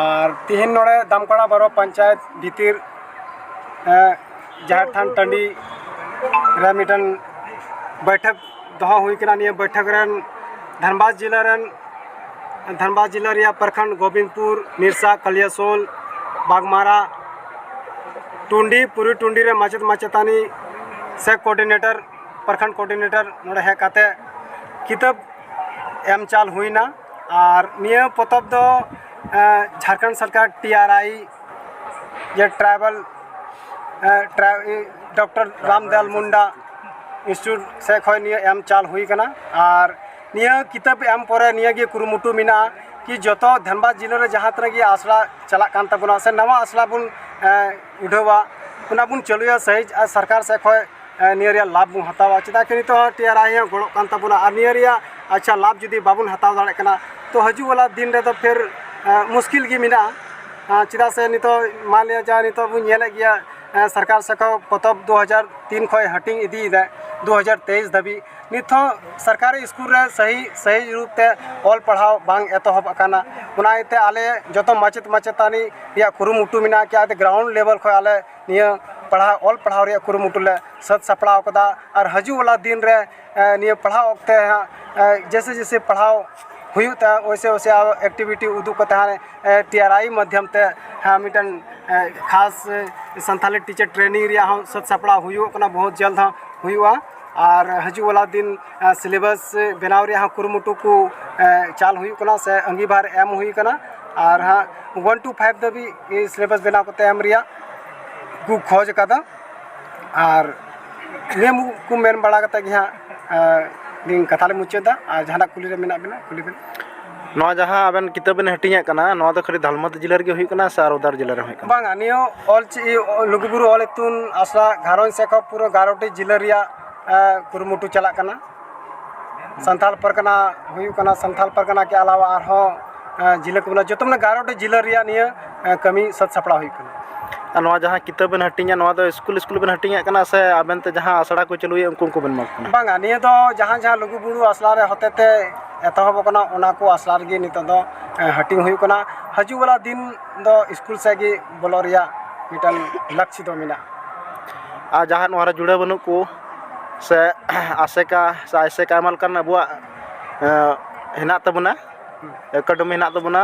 ᱟᱨ ᱛᱤᱦᱤᱧ ᱱᱚᱰᱮ ᱫᱟᱢᱠᱟᱲᱟ ᱵᱟᱨᱚ ᱯᱚᱧᱪᱟᱭᱮᱛ ᱵᱷᱤᱛᱤᱨ ᱡᱟᱦᱮᱨ ᱛᱷᱟᱱ ᱴᱟᱺᱰᱤ ᱨᱮ ᱢᱤᱫᱴᱮᱱ ᱵᱟᱹᱭᱴᱷᱟᱹᱠ ᱫᱚᱦᱚ ᱦᱩᱭ ᱠᱟᱱᱟ ᱱᱤᱭᱟᱹ ᱵᱟᱹᱭᱴᱷᱟᱹᱠ ᱨᱮᱱ ᱫᱷᱟᱱᱵᱟᱫᱽ ᱡᱮᱞᱟ ᱨᱮᱱ ᱫᱷᱟᱱᱵᱟᱫᱽ ᱡᱮᱞᱟ ᱨᱮᱭᱟᱜ ᱯᱨᱚᱠᱷᱚᱸᱰ ᱜᱳᱵᱤᱱᱫᱯᱩᱨ ᱱᱤᱨᱥᱟ ᱠᱟᱞᱤᱭᱟᱥᱳᱞ ᱵᱟᱜᱽᱢᱟᱨᱟ ᱴᱩᱸᱰᱤ ᱯᱩᱨᱤ ᱴᱩᱸᱰᱤ ᱨᱮ ᱢᱟᱪᱮᱫ ᱢᱟᱪᱮᱛᱟᱹᱱᱤ ᱥᱮ ᱠᱳᱰᱤᱱᱮᱴᱚᱨ ᱯᱨᱚᱠᱷᱚᱸᱰ ᱠᱳᱰᱤᱱᱮᱴᱚᱨ ᱱᱚᱰᱮ ᱦᱮᱡ ᱠᱟᱛᱮᱫ ᱠᱤᱛᱟᱹᱵ ᱮᱢ ᱪᱟᱞ ᱦᱩᱭᱱᱟ ᱟᱨ ᱱᱤᱭᱟᱹ ᱯᱚᱛᱚᱵ ᱫᱚ ᱡᱷᱟᱲᱠᱷᱚᱸᱰ ᱥᱚᱨᱠᱟᱨ ᱴᱤ ᱟᱨ ᱟᱭ ᱡᱮ tribal doctor Ramdayal Munda institute ᱥᱮᱡ ᱠᱷᱚᱡ ᱱᱤᱭᱟᱹ ᱮᱢ ᱪᱟᱞ ᱦᱩᱭ ᱠᱟᱱᱟ ᱟᱨ ᱱᱤᱭᱟᱹ ᱠᱤᱛᱟᱹᱵ ᱮᱢ ᱯᱚᱨᱮ ᱱᱤᱭᱟᱹ ᱜᱮ ᱠᱩᱨᱩᱢᱩᱴᱩ ᱢᱮᱱᱟᱜᱼᱟ ᱠᱤ ᱡᱚᱛᱚ ᱫᱷᱟᱱᱵᱟᱫᱽ ᱡᱮᱞᱟ ᱨᱮ ᱡᱟᱦᱟᱸ ᱛᱤᱱᱟᱹᱜ ᱜᱮ ᱟᱥᱲᱟ ᱪᱟᱞᱟᱜ ᱠᱟᱱ ᱛᱟᱵᱚᱱᱟ ᱥᱮ ᱱᱟᱣᱟ ᱟᱥᱲᱟ ᱵᱚᱱ ᱩᱰᱷᱟᱹᱣᱟ ᱚᱱᱟ ᱵᱚᱱ ᱪᱟᱹᱞᱩᱭᱟ ᱥᱟᱹᱦᱤ ᱟᱨ ᱥᱚᱨᱠᱟᱨ ᱥᱮᱫ ᱠᱷᱚᱱ ᱱᱤᱭᱟᱹ ᱨᱮᱭᱟᱜ ᱞᱟᱵᱷ ᱵᱚᱱ ᱦᱟᱛᱟᱣᱟ ᱪᱮᱫᱟᱜ ᱥᱮ ᱱᱤᱛᱚᱜ ᱦᱚᱸ ᱴᱤ ᱟᱨ ᱟᱭ ᱦᱚᱸ ᱜᱚᱲᱚᱜ ᱠᱟᱱ ᱛᱟᱵᱚᱱᱟ ᱟᱨ ᱱᱤᱭᱟᱹ ᱨᱮᱭᱟᱜ ᱟᱪᱪᱷᱟ ᱞᱟᱵᱷ ᱡᱩᱫᱤ ᱵᱟᱵᱚᱱ ᱦᱟᱛᱟᱣ ᱫᱟᱲᱮᱭᱟᱜ ᱠᱟᱱᱟ ᱛᱚ ᱦᱤᱡᱩᱜ ᱵᱟᱞᱟ ᱫᱤᱱ ᱨᱮᱫᱚ ᱯᱷᱤᱨ ᱢᱩᱥᱠᱤᱞ ᱜᱮ ᱢᱮᱱᱟᱜᱼᱟ ᱪᱮᱫᱟᱜ ᱥᱮ ᱱᱤᱛᱚᱜ ᱢᱟᱱ ᱞᱤᱭᱟ ᱡᱟᱦᱟᱸ ᱱᱤᱛᱚᱜ ᱵᱚᱱ ᱧᱮᱞᱮᱫ ᱜᱮᱭᱟ ᱥᱚᱨᱠᱟᱨ ᱥᱮᱫ ᱠᱷᱚᱱ ᱯᱚᱛᱚᱵ ᱫᱩ ᱦᱟᱡᱟᱨ ᱛᱤᱱ ᱠᱷᱚᱱ ᱦᱟᱹᱴᱤᱧ ᱤᱫᱤᱭᱮᱫᱟᱭ ᱫᱩ ᱦᱟᱡᱟᱨ ᱛᱮᱭᱤᱥ ᱫᱷᱟᱹᱵᱤᱡ ᱱᱤᱛ ᱦᱚᱸ ᱥᱚᱨᱠᱟᱨᱤ ᱥᱠᱩᱞ ᱨᱮ ᱥᱟᱹᱦᱤ ᱥᱟᱹᱦᱤ ᱨᱩᱯ ᱛᱮ ᱚᱞ ᱯᱟᱲᱦᱟᱣ ᱵᱟᱝ ᱮᱛᱚᱦᱚᱵ ᱟᱠᱟᱱᱟ ᱚᱱᱟ ᱤᱭᱟᱹᱛᱮ ᱟᱞᱮ ᱡᱚᱛᱚ ᱢᱟᱪᱮᱫ ᱢᱟᱪᱮᱛᱟᱹᱱᱤ ᱨᱮᱭᱟᱜ ᱠᱩᱨᱩᱢᱩᱴᱩ ᱢᱮᱱᱟᱜᱼᱟ ᱪᱮᱠᱟᱛᱮ ᱜᱨᱟᱣᱩᱱᱰ ᱞᱮᱵᱮᱞ ᱠᱷᱚᱱ ᱟᱞᱮ ᱱᱤᱭᱟᱹ ᱯᱟᱲᱦᱟᱣ ᱚᱞ ᱯᱟᱲᱦᱟᱣ ᱨᱮᱭᱟᱜ ᱠᱩᱨᱩᱢᱩᱴᱩ ᱞᱮ ᱥᱟᱹᱛ ᱥᱟᱯᱲᱟᱣ ᱠᱟᱫᱟ ᱟᱨ ᱦᱤᱡᱩᱜ ᱚᱱᱟ ᱫᱤᱱ ᱨᱮ ᱱᱤᱭᱟᱹ ᱯᱟᱲᱦᱟᱣ ᱚᱠᱛᱮ ᱦᱟᱸᱜ ᱡᱮᱭᱥᱮ ᱡᱮᱭᱥᱮ ᱯᱟᱲᱦᱟᱣ ᱦᱩᱭᱩᱜ ᱛᱮ ᱚᱭᱥᱮ ᱚᱭᱥᱮ ᱟᱨᱚ ᱮᱠᱴᱤᱵᱷᱤᱴᱤ ᱩᱫᱩᱜ ᱠᱟᱛᱮ ᱦᱟᱸᱜ ᱴᱤ ᱟᱨ ᱟᱭ ᱢᱟᱫᱽᱫᱷᱚᱢ ᱛᱮ ᱦᱮᱸ ᱢᱤᱫᱴᱮᱱ ᱠᱷᱟᱥ ᱥᱟᱱᱛᱟᱲᱤ ᱴᱤᱪᱟᱨ ᱴᱨᱮᱱᱤᱝ ᱨᱮᱭᱟᱜ ᱦᱚᱸ ᱥᱟᱹᱛ ᱥᱟᱯᱲᱟᱣ ᱦᱩᱭᱩᱜ ᱠᱟᱱᱟ ᱵᱚᱦᱩᱛ ᱡᱚᱞᱫ ᱦᱟᱸᱜ ᱦᱩᱭᱩᱜᱼᱟ ᱟᱨ ᱦᱤᱡᱩᱜ ᱵᱟᱞᱟ ᱫᱤᱱ ᱥᱤᱞᱮᱵᱟᱥ ᱵᱮᱱᱟᱣ ᱨᱮᱭᱟᱜ ᱦᱚᱸ ᱠᱩᱨᱩᱢᱩᱴᱩ ᱠᱚ ᱪᱟᱞ ᱦᱩᱭᱩᱜ ᱠᱟᱱᱟ ᱥᱮ ᱟᱺᱜᱤᱵᱷᱟᱨ ᱮᱢ ᱦᱩᱭ ᱠᱟᱱᱟ ᱟᱨ ᱦᱟᱸᱜ ᱚᱣᱟᱱ ᱴᱩ ᱯᱷᱟᱭᱤᱵᱽ ᱫᱷᱟᱹᱵᱤᱡ ᱥᱤᱞᱮᱵᱟᱥ ᱵᱮᱱᱟᱣ ᱠᱟᱛᱮ ᱮᱢ ᱨᱮᱭᱟᱜ ᱠᱚ ᱠᱷᱚᱡᱽ ᱠᱟᱫᱟ ᱟᱨ ᱱᱤᱭᱟᱹ ᱠᱚ ᱢᱮᱱ ᱵᱟᱲᱟ ᱠᱟᱛᱮ ᱜᱮ ᱦᱟᱸᱜ ᱟᱹᱞᱤᱧ ᱠᱟᱛᱷᱟ ᱞᱤᱧ ᱢᱩᱪᱟᱹᱫᱟ ᱟᱨ ᱡᱟᱦᱟᱱᱟᱜ ᱠᱩᱞᱤ ᱨᱮ ᱢᱮᱱᱟᱜ ᱵᱮᱱᱟ ᱠᱩᱞᱤ ᱵᱮᱱ ᱱᱚᱣᱟ ᱡᱟᱦᱟᱸ ᱟᱵᱮᱱ ᱠᱤᱛᱟᱹᱵ ᱵᱮᱱ ᱦᱟᱹᱴᱤᱧᱮᱫ ᱠᱟᱱᱟ ᱱᱚᱣᱟ ᱫᱚ ᱠᱷᱟᱹᱞᱤ ᱫᱷᱟᱞᱢᱟᱛᱤ ᱡᱮᱞᱟ ᱨᱮᱜᱮ ᱦᱩᱭᱩᱜ ᱠᱟᱱᱟ ᱥᱮ ᱟᱨ ᱚᱫᱟᱨ ᱡᱮᱞᱟ ᱨᱮ ᱦᱩᱭᱩᱜ ᱠᱟᱱᱟ ᱵᱟᱝᱟ ᱱᱤᱭᱟᱹ ᱚᱞ ᱪᱤ ᱞᱩᱜᱩᱵᱩᱨᱩ ᱚᱞ ᱤᱛᱩᱱ ᱟᱥᱲᱟ ᱜᱷᱟᱨᱚᱸᱡᱽ ᱥᱮᱠᱷᱟ ᱯᱩᱨᱟᱹ ᱜᱟᱨᱚᱴᱤ ᱡᱮᱞᱟ ᱨᱮᱭᱟᱜ ᱠᱩᱨᱩᱢᱩᱴᱩ ᱪᱟᱞᱟᱜ ᱠᱟᱱᱟ ᱥᱟᱱᱛᱟᱲ ᱯᱟᱨᱜᱟᱱᱟ ᱦᱩᱭᱩᱜ ᱠᱟᱱᱟ ᱥᱟᱱᱛᱟᱲ ᱯᱟᱨᱜᱟᱱᱟ ᱠᱮ ᱟᱞᱟᱣᱟ ᱟᱨᱦᱚᱸ ᱡᱮᱞᱟ ᱠᱚ ᱢᱮᱱᱟᱜᱼᱟ ᱡᱚᱛᱚ ᱢᱟᱱᱮ ᱜᱟᱨᱚᱴᱤ ᱡᱮᱞᱟ ᱨᱮᱭᱟᱜ ᱱᱤᱭᱟᱹ ᱠᱟᱹᱢᱤ ᱥᱟᱹᱛ ᱥᱟᱯᱲᱟᱣ ᱦᱩᱭᱩᱜ ᱠᱟᱱᱟ ᱟᱨ ᱱᱚᱣᱟ ᱡᱟᱦᱟᱸ ᱠᱤᱛᱟᱹᱵ ᱵᱮᱱ ᱦᱟᱹᱴᱤᱧᱟ ᱱᱚᱣᱟ ᱫᱚ ᱥᱠᱩᱞ ᱥᱠᱩᱞ ᱵᱮᱱ ᱦᱟᱹᱴᱤᱧᱮᱫ ᱠᱟᱱᱟ ᱥᱮ ᱟᱵᱮᱱ ᱛᱮ ᱡᱟᱦᱟᱸ ᱟᱥᱲᱟ ᱠᱚ ᱪᱟᱹᱞᱩᱭᱮᱫ ᱩᱱᱠᱩ ᱩᱱᱠᱩ ᱵᱮᱱ ᱮᱢᱟ ᱠᱚ ᱠᱟᱱᱟ ᱵᱟᱝᱟ ᱱᱤᱭᱟᱹ ᱫᱚ ᱡᱟᱦᱟᱸ ᱡᱟᱦᱟᱸ ᱞᱩᱜᱩᱵᱩᱨᱩ ᱟᱥᱲᱟ ᱨᱮ ᱦᱚᱛᱮᱛᱮ ᱮᱛᱚᱦᱚᱵᱚᱜ ᱠᱟᱱᱟ ᱚᱱᱟ ᱠᱚ ᱟᱥᱲᱟ ᱨᱮᱜᱮ ᱱᱤᱛᱚᱜ ᱫᱚ ᱦᱟᱹᱴᱤᱧ ᱦᱩᱭᱩᱜ ᱠᱟᱱᱟ ᱦᱤᱡᱩᱜ ᱵᱟᱞᱟ ᱫᱤᱱ ᱫᱚ ᱥᱠᱩᱞ ᱥᱮᱫ ᱜᱮ ᱵᱚᱞᱚᱜ ᱨᱮᱭᱟᱜ ᱢᱤᱫᱴᱟᱝ ᱞᱟᱹᱠᱛᱤ ᱫᱚ ᱢᱮᱱᱟᱜᱼᱟ ᱟᱨ ᱡᱟᱦᱟᱸᱭ ᱱᱚᱣᱟ ᱨᱮ ᱡᱩᱲᱟᱹᱣ ᱵᱟᱹᱱᱩᱜ ᱠᱚ ᱥᱮ ᱟᱥᱮᱠᱟ ᱥᱮ ᱟᱭᱥᱮᱠᱟ ᱟᱭᱢᱟ ᱞᱮᱠᱟᱱ ᱟᱵᱚᱣᱟᱜ ᱦᱮᱱᱟᱜ ᱛᱟᱵᱚᱱᱟ ᱮᱠᱟᱰᱮᱢᱤ ᱦᱮᱱᱟᱜ ᱛᱟᱵᱚᱱᱟ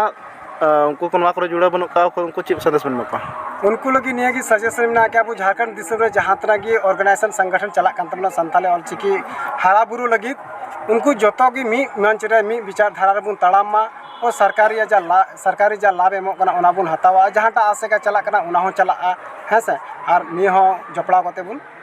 ᱩᱱᱠᱩ ᱠᱚ ᱱᱚᱣᱟ ᱠᱚᱨᱮ ᱡᱩᱲᱟᱹᱣ ᱵᱟᱹᱱᱩᱜ ᱠᱚᱣᱟ ᱚᱠᱚᱭ ᱩᱱᱠᱩ ᱪᱮᱫ ᱥᱟᱸᱫᱮᱥ ᱵᱮᱱ ᱮᱢᱟ ᱠᱚᱣᱟ ᱩᱱᱠᱩ ᱞᱟᱹᱜᱤᱫ ᱱᱤᱭᱟᱹ ᱜᱮ ᱥᱟᱡᱮᱥᱚᱱ ᱢᱮᱱᱟᱜᱼᱟ ᱠᱤ ᱟᱵᱚ ᱡᱷᱟᱲᱠᱷᱚᱸᱰ ᱫᱤᱥᱚᱢ ᱨᱮ ᱡᱟᱦᱟᱸ ᱛᱤᱱᱟᱹᱜ ᱜᱮ ᱚᱨᱜᱟᱱᱟᱭᱤᱡᱮᱥᱚᱱ ᱥᱚᱝᱜᱚᱴᱷᱚᱱ ᱪᱟᱞᱟᱜ ᱠᱟᱱ ᱛᱟᱵᱚᱱᱟ ᱥᱟᱱᱛᱟᱲᱤ ᱚᱞ ᱪᱤᱠᱤ ᱦᱟᱨᱟ ᱵᱩᱨᱩ ᱞᱟᱹᱜᱤᱫ ᱩᱱᱠᱩ ᱡᱚᱛᱚ ᱜᱮ ᱢᱤᱫ ᱢᱚᱧᱪ ᱨᱮ ᱢᱤᱫ ᱵᱤᱪᱟᱨ ᱫᱷᱟᱨᱟ ᱨᱮᱵᱚᱱ ᱛᱟᱲᱟᱢ ᱢᱟ ᱟᱨ ᱥᱚᱨᱠᱟᱨ ᱨᱮᱭᱟᱜ ᱡᱟ ᱞᱟᱵᱷ ᱥᱚᱨᱠᱟᱨ ᱨᱮᱭᱟᱜ ᱡᱟ ᱞᱟᱵᱷ ᱮᱢᱚᱜ ᱠᱟᱱᱟ ᱚᱱᱟ ᱵᱚᱱ ᱦᱟᱛᱟᱣᱟ ᱡᱟᱦᱟᱸᱴᱟᱜ ᱟᱥᱮᱠᱟ ᱪᱟᱞᱟᱜ ᱠᱟᱱᱟ ᱚᱱᱟ ᱦᱚᱸ ᱪᱟᱞᱟᱜᱼᱟ ᱦᱮᱸ ᱥᱮ ᱟᱨ ᱱᱤᱭᱟᱹ ᱦᱚᱸ ᱡᱚᱯᱲᱟᱣ ᱠᱟᱛᱮᱫ ᱵᱚᱱ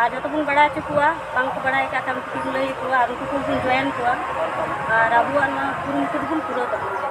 ᱟᱨ ᱡᱚᱛᱚ ᱵᱚᱱ ᱵᱟᱲᱟᱭ ᱦᱚᱪᱚ ᱠᱚᱣᱟ ᱵᱟᱝ ᱠᱚ ᱵᱟᱲᱟᱭ ᱠᱟᱜ ᱠᱷᱟᱱ ᱩᱱᱠᱩ ᱵᱚᱱ ᱞᱟᱹᱭ ᱟᱠᱚᱣᱟ ᱟᱨ ᱩᱱᱠᱩ ᱠᱚᱵᱚᱱ ᱡᱚᱭᱮᱱ ᱠᱚᱣᱟ ᱟᱨ ᱟᱵᱚᱣᱟᱜ ᱱᱚᱣᱟ ᱠᱩᱨᱩᱢᱩᱴᱩ ᱫᱚᱵᱚᱱ ᱯᱩᱨᱟᱹᱣ ᱛᱟᱵᱚᱱ ᱜᱮᱭᱟ